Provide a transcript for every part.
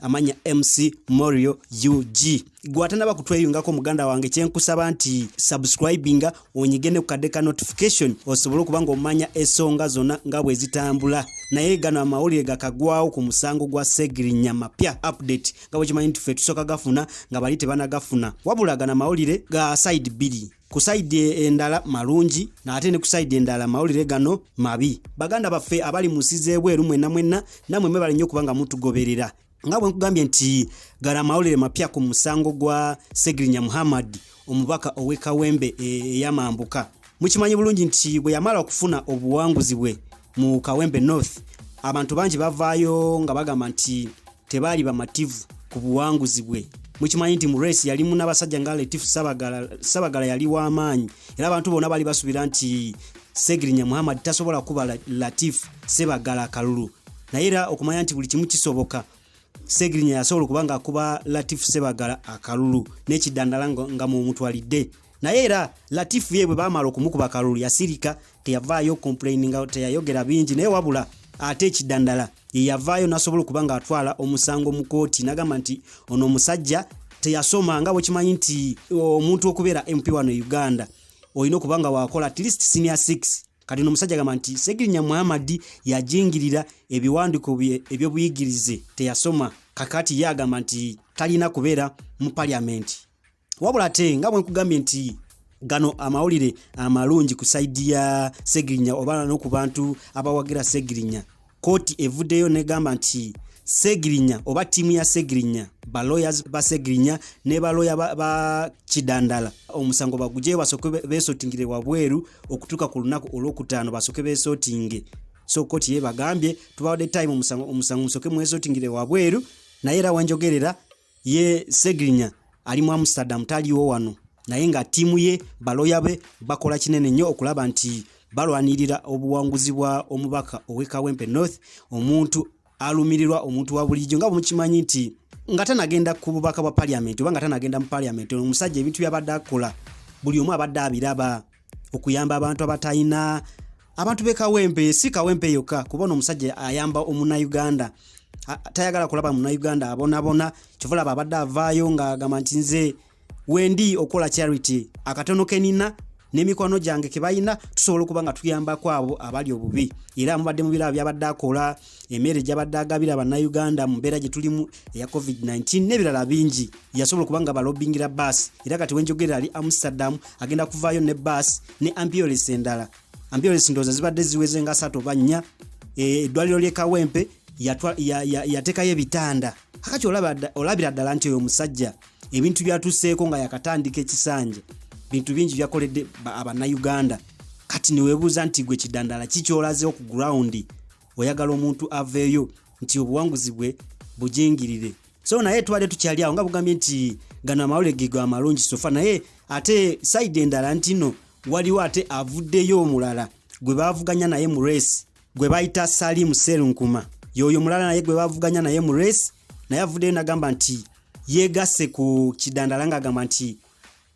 amanya mc morio ug gwatanaba kutweyungako muganda wange kyenkusaba nti subscribinga onyige ne kukadde ka notification osobole okuba nga omanya esonga zona nga bwezitambula naye gano amawulire gakagwawo ku musango gwa segirinya mapya update nga bwekimanyi nti fe tusoka gafuna nga bali tebanagafuna wabula gano amawulire ga side bili ku sayidi endala malungi naate ne ku sayidi endala mawulire gano mabi baganda baffe abali mu nsi z'ebweru mwenna mwenna namwe mwebale nnyo okuba nga mutugoberera nga bwe nkugambye nti gala amawulire mapya ku musango gwa segirinya muhammad omubaka ow'e kawembe e, eyamambuka mukimanyi bulungi nti bwe yamala okufuna obuwanguzi bwe mu kawembe north abantu bangi bavaayo nga bagamba nti tebaali bamativu ku buwanguzi bwe mukimanyi nti mu race yalimu n'abasajja nga letif sabagala yali w'amaanyi era abantu bonna baali basuubira nti segirinya muhammad tasobola kuba latif sebagala kalulu naye era okumanya nti buli kimu kisoboka segirinya yasobola okuba ngaakuba latif sebagala akalulu n'ekidandala nga mumutwalidde nga naye era latifu ye bwe baamala okumukuba kalulu yasirika teyavaayo complaininga teyayogera bingi naye wabula ate ekidandala yeyavaayo nasobola okuba nga atwala omusango mu kooti nagamba nti ono omusajja teyasoma nga bwekimanyi nti omuntu okubeera mp wano e uganda olina okuba nga wakola at least senior 6 kati no musajja gamba nti segirinya muhammadi yajingirira ebiwandiko bye ebyobuyigirize teyasoma kakati ye agamba nti talina kubeera mu paliamenti wabula ate nga bwenkugambye nti gano amawulire amalungi ku saidi ya segirinya oba noku bantu abawagira segirinya kooti evuddeyo negamba nti segirinya oba tiimu ya segirinya baloya ba segirinya ne baloya ba, ba kidandala omusango bagugyeyo basoke besotingire wabweru okutuuka ku lunaku olwokutaano basoke besotinge so kooti ye bagambye tubawadde time omusango musoke mwesotingire wabweru naye era wenjogerera ye segirinya ali mu amsterdam taliwo wano naye nga ttiimu ye baloya be bakola kinene nnyo okulaba nti balwanirira obuwanguzi bwa omubaka ow'e kawempe north omuntu alumirirwa omuntu wa bulijjo nga bwemukimanyi nti nga tanagenda ku bubaka bwa paliamenti oba nga tanagenda mu paliamenti omusajja ebintu byabadde akola buli omu abadde abiraba okuyamba abantu abatalina abantu be kawempe si kawempe yokka kuba ono omusajja ayamba omunauganda tayagala kulaba munauganda abonabona kyovulaba abadde avaayo ngaagamba nti nze wendi okukola charity akatono kenina nemikwano gyange kebalina tusobola okuba nga tuyambako abo abali obubi era mubadde mubiraba byabadde akola emere gyabadde agabira bannayuganda mu mbeera gye tulimu eya covid-19 n'ebirala bingi yasobola okuba nga balobingira baasi era kati wenjogera ali amsterdam agenda kuvaayo ne baasi ne ampiores endala ampiores ndooza zibadde ziweze nga satu oba nnya e, eddwaliro ly'e kawempe yateekayo ebitanda akati olabira ddala nti oyo omusajja ebintu byatuseeko nga yakatandika ekisanja bintu bingi byakoledde abanauganda kati newebuuza nti gwe kidandala kikyolazewo ku grawundi oyagala omuntu aveeyo nti obuwanguzi bwe bujingirire so naye tubadde tukyali awo nga bugambye nti gano amawole gego amalungi sofa naye ate saidi endala ntino waliwo ate avuddeyo omulala gwe bavuganya naye mu resi gwe bayita Salim Serunkuma yoyo mulala naye gwe bavuganya naye mu race naye avuddeyo nagamba nti yegasse ku kidandala ng'agamba nti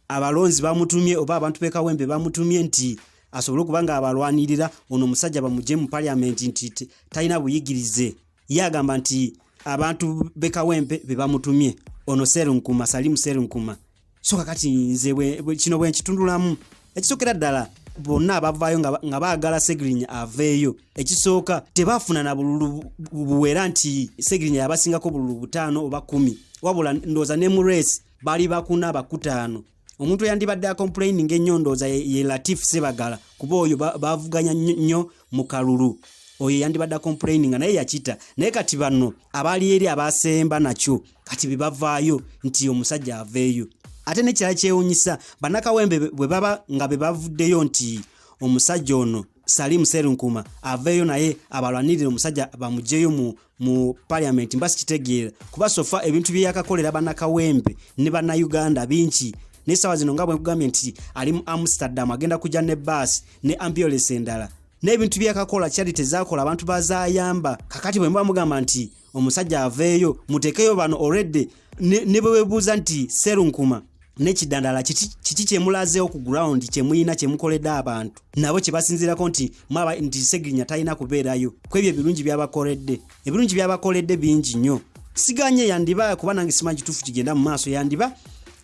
abalonzi bamutumye oba abantu bekawembe bamutumye nti asobole okuba nga abalwanirira ono omusajja bamugye mu paliamenti nti talina buyigirize ye agamba nti abantu bekawempe bebamutumye ono serunkuma salimu serunkuma soka kati nze kino bwenkitundulamu ekisokera ddala bonna abavaayo nga baagala segirinya aveeyo ekisooka tebafuna na bululu buwera nti segirinya yabasingako bululu butaano oba kumi wabula ndooza ne mu reesi bali bakuna bakutaano omuntu eyandibadde akomplaininga ennyo ndooza ye latif sebagala kuba oyo bavuganya nnyo mu kalulu oyo yandibadde akomplaininga naye yakita naye kati bano abaali eri abasemba nakyo kati bebavaayo nti omusajja aveeyo ate nekirala kyewunyisa banakawembe bwe baba nga bebavuddeyo nti omusajja ono salimu serunkuma aveeyo naye abalwanirire omusajja bamugyeyo mu mu parliament mba sikitegeera kuba sofa ebintu byeyakakolera banakawempe ne bannayuganda bingi naye saawa zino nga bwekugambye nti ali mu amsterdam agenda kujja ne baasi ne ambulance endala n'ebintu byeyakakola kyali tezakola abantu bazayamba kakati bwe muba mugamba nti omusajja aveeyo mutekeyo bano already ne bwe webuuza nti serunkuma nekidandala kiki kyemulazeewo ku ground kyemulina kyemukoledde abantu nabo kyebasinzirako nti mwaba nti segirinya talina kubeerayo kwebyo ebirungi byabakoledde ebirungi byabakoledde bingi nnyo siganye yandiba kuba nange simanyi kituufu kigenda mu maaso yandiba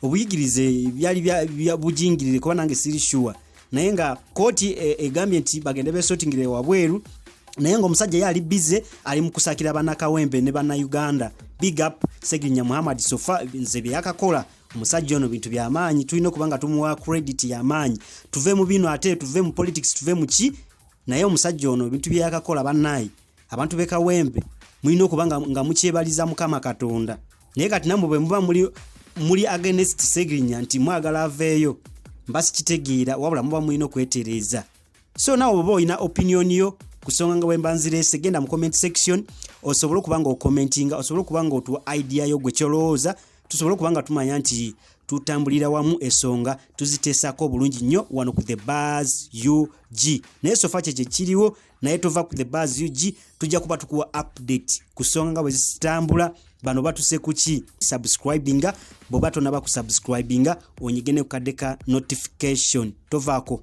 obuyigirize byali bujingirire kuba nange siri shuwa naye nga kooti e, egambye nti bagende besotingire wabweru naye ngaomusajja ye ali bize ali mu kusakira banakawembe ne bannayuganda big up segirinya muhammad sofa nze byeyakakola omusajja ono bintu byamaanyi tulina okuba nga tumuwa credit yamaanyi tuve mu bino ate tuve mu politics tuve mu ki naye omusajja ono ebintu byeyakakola bannaayi abantu b'e kawempe mulina okuba nga, nga mukyebaliza mukama katonda naye kati namwe bwe muba muli, muli agenest segirinya nti mwagala aveeyo mba sikitegeera wabula muba mulina okwetereeza so nawe oba olina opinion yo kusonga nga bwemba nzireese genda mu comment section osobole okuba nga okomentinga osobole okuba nga otuwa idea yo gwe kyolowooza tusobole okuba nga tumanya nti tutambulira wamu esonga tuziteesako obulungi nnyo wano ku the bars ug naye sofa kye kyekiriwo naye tova ku the bars ug tujja kuba tukuwa update ku songa nga bwezitambula bano batuse kuki subscribinga bwoba tonaba kusubscribinga onyige ne kukadde ka notification tovaako